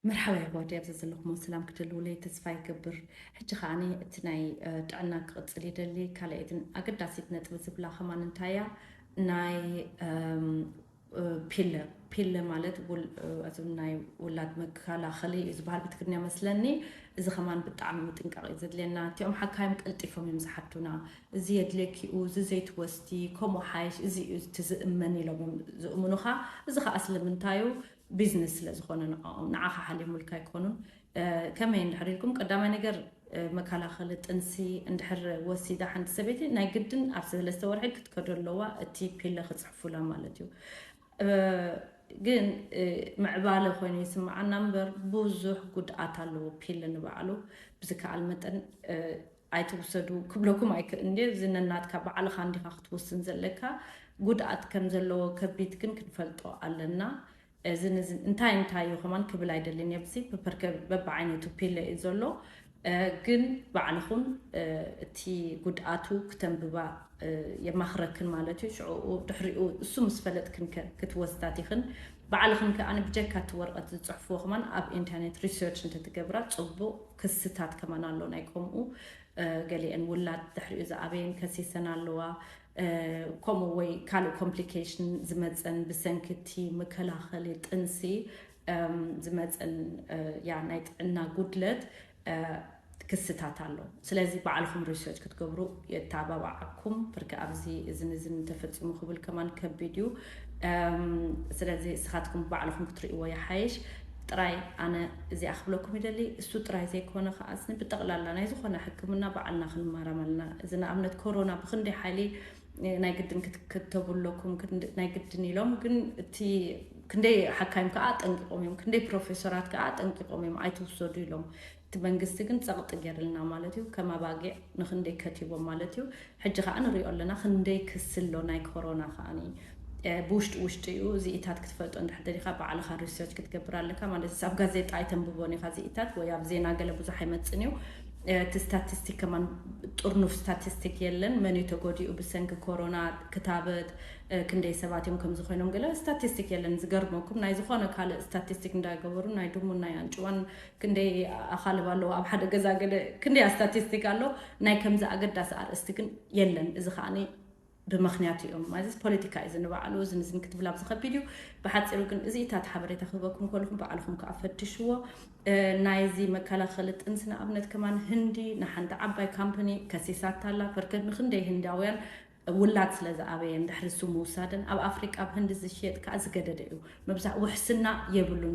መርሓባ የሕዋተይ ኣብዚ ዘለኹሞ ሰላም ክትህልውለይ ተስፋ ይገብር ሕጂ ከኣ እቲ ናይ ጥዕና ክቕጽል ይደሊ ካልኣይትን ኣገዳሲት ነጥቢ ዝብላ ከማን እንታያ ናይ ፒለ ፒለ ማለት እዞም ናይ ውላድ መከላኸሊ እዩ ዝበሃል ብትግርኛ መስለኒ እዚ ከማን ብጣዕሚ ምጥንቃቕ እዩ ዘድልየና እቲኦም ሓካይም ቀልጢፎም እዮም ዝሓቱና እዚ የድልየኪ'ዩ፣ እዚ ዘይትወስዲ፣ ከምኡ ሓይሽ፣ እዚ'ዩ እቲ ዝእመን ኢሎም እዮም ዝእምኑኻ። እዚ ኸኣ ስለምንታይ'ዩ፣ ቢዝነስ ስለ ዝኾነ ንዕኦም። ንዓኻ ሓልዮምልካ ኣይኮኑን። ከመይ እንድሕር ኢልኩም፣ ቀዳማይ ነገር መከላኸሊ ጥንሲ እንድሕር ወሲዳ ሓንቲ ሰበይቲ፣ ናይ ግድን ኣብ ሰለስተ ወርሒ ክትከዶ ኣለዋ፣ እቲ ፒለ ክጽሕፉላ ማለት እዩ። ግን ምዕባለ ኮይኑ ይስምዓና እምበር ብዙሕ ጉድኣት ኣለዎ ፒለ ንባዕሉ። ብዝከኣል መጠን ኣይትውሰዱ ክብለኩም ኣይክእልን ድየ እዚ ነናትካ ባዕልኻ እንዲኻ ክትወስን ዘለካ ጉድኣት ከም ዘለዎ ከቢት ግን ክንፈልጦ ኣለና እዝን እዝን እንታይ እንታይ እዩ ከማን ክብል ኣይደልን እየ ብዚ ፐፐርከ በብዓይነቱ ፒለ እዩ ዘሎ ግን ባዕልኹን እቲ ጉድኣቱ ክተንብባ የማኽረክን ማለት እዩ ሽዕኡ ድሕሪኡ እሱ ምስ ፈለጥክን ክትወስዳት ይኽን ባዕልኽን ከኣ ብጀካ እቲ ወረቐት ዝፅሕፍዎ ከማን ኣብ ኢንተርኔት ሪሰርች እንተትገብራ ፅቡቕ ክስታት ከማን ኣሎ ናይ ከምኡ ገሊኤን ውላድ ድሕሪኡ ዝኣበየን ከሲሰን ኣለዋ ከምኡ ወይ ካልእ ኮምፕሊኬሽን ዝመፀን ብሰንኪ እቲ መከላኸሊ ጥንሲ ዝመፀን ያ ናይ ጥዕና ጉድለት ክስታት ኣሎ ስለዚ ባዕልኹም ሪሰርች ክትገብሩ የተባባዓኩም ብርኪ ኣብዚ እዝን እዝን ተፈፂሙ ክብል ከማን ከቢድ እዩ ስለዚ እስኻትኩም ባዕልኹም ክትርእይዎ ይሓይሽ ጥራይ ኣነ እዚኣ ክብለኩም ይደሊ እሱ ጥራይ ዘይኮነ ከዓ ብጠቕላላ ናይ ዝኾነ ሕክምና ባዕልና ክንማራም ኣለና እዚ ንኣብነት ኮሮና ብክንደይ ሓይሊ ናይ ግድን ክትከተቡ ኣለኩም ናይ ግድን ኢሎም ግን እቲ ክንደይ ሓካይም ከዓ ኣጠንቂቆም እዮም ክንደይ ፕሮፌሰራት ከዓ ኣጠንቂቆም እዮም ኣይትውሰዱ ኢሎም እቲ መንግስቲ ግን ጸቕጢ ጌርልና ማለት እዩ ከም ኣባጊዕ ንኽንደይ ከቲቦም ማለት እዩ ሕጂ ከኣ ንሪኦ ኣለና ክንደይ ክሲ ኣሎ ናይ ኮሮና ከኣ ብውሽጢ ውሽጢ እዩ እዚኢታት ክትፈልጦ እንድሕር ደሊኻ ባዕልኻ ሪሰርች ክትገብር ኣለካ ማለት እዩ ኣብ ጋዜጣ ኣይተንብቦን ኢኻ እዚኢታት ወይ ኣብ ዜና ገለ ብዙሕ ኣይመጽን እዩ እቲ ስታቲስቲክ ከማን ጥርኑፍ ስታቲስቲክ የለን መን እዩ ተጎዲኡ ብሰንኪ ኮሮና ክታበት ክንደይ ሰባት እዮም ከምዚ ኮይኖም ገለ ስታቲስቲክ የለን ዝገርመኩም ናይ ዝኾነ ካልእ ስታቲስቲክ እንዳገበሩ ናይ ድሙን ናይ ኣንጭዋን ክንደይ ኣኻልብ ኣለዋ ኣብ ሓደ ገዛ ገለ ክንደይ ኣስታቲስቲክ ኣሎ ናይ ከምዚ ኣገዳሲ ኣርእስቲ ግን የለን እዚ ከኣ ብምክንያት እዮም ማለትስ ፖለቲካ እዩ ዝንባዕሉ እዚ ንዝን ክትብል ኣብዚ ከቢድ እዩ ብሓፂሩ ግን እዚ እታት ሓበሬታ ክህበኩም ከለኹም በዓልኹም ከዓ ፈትሽዎ ናይዚ መከላኸሊ ጥንሲ ንኣብነት ከማን ህንዲ ንሓንቲ ዓባይ ካምፓኒ ከሲሳታላ ፐርከት ንክንደይ ህንዳውያን ውላድ ስለ ዝኣበየን ድሕሪ ንሱ ምውሳደን ኣብ ኣፍሪቃ ኣብ ህንዲ ዝሽየጥ ከኣ ዝገደደ እዩ። ምብዛሕ ውሕስና የብሉን።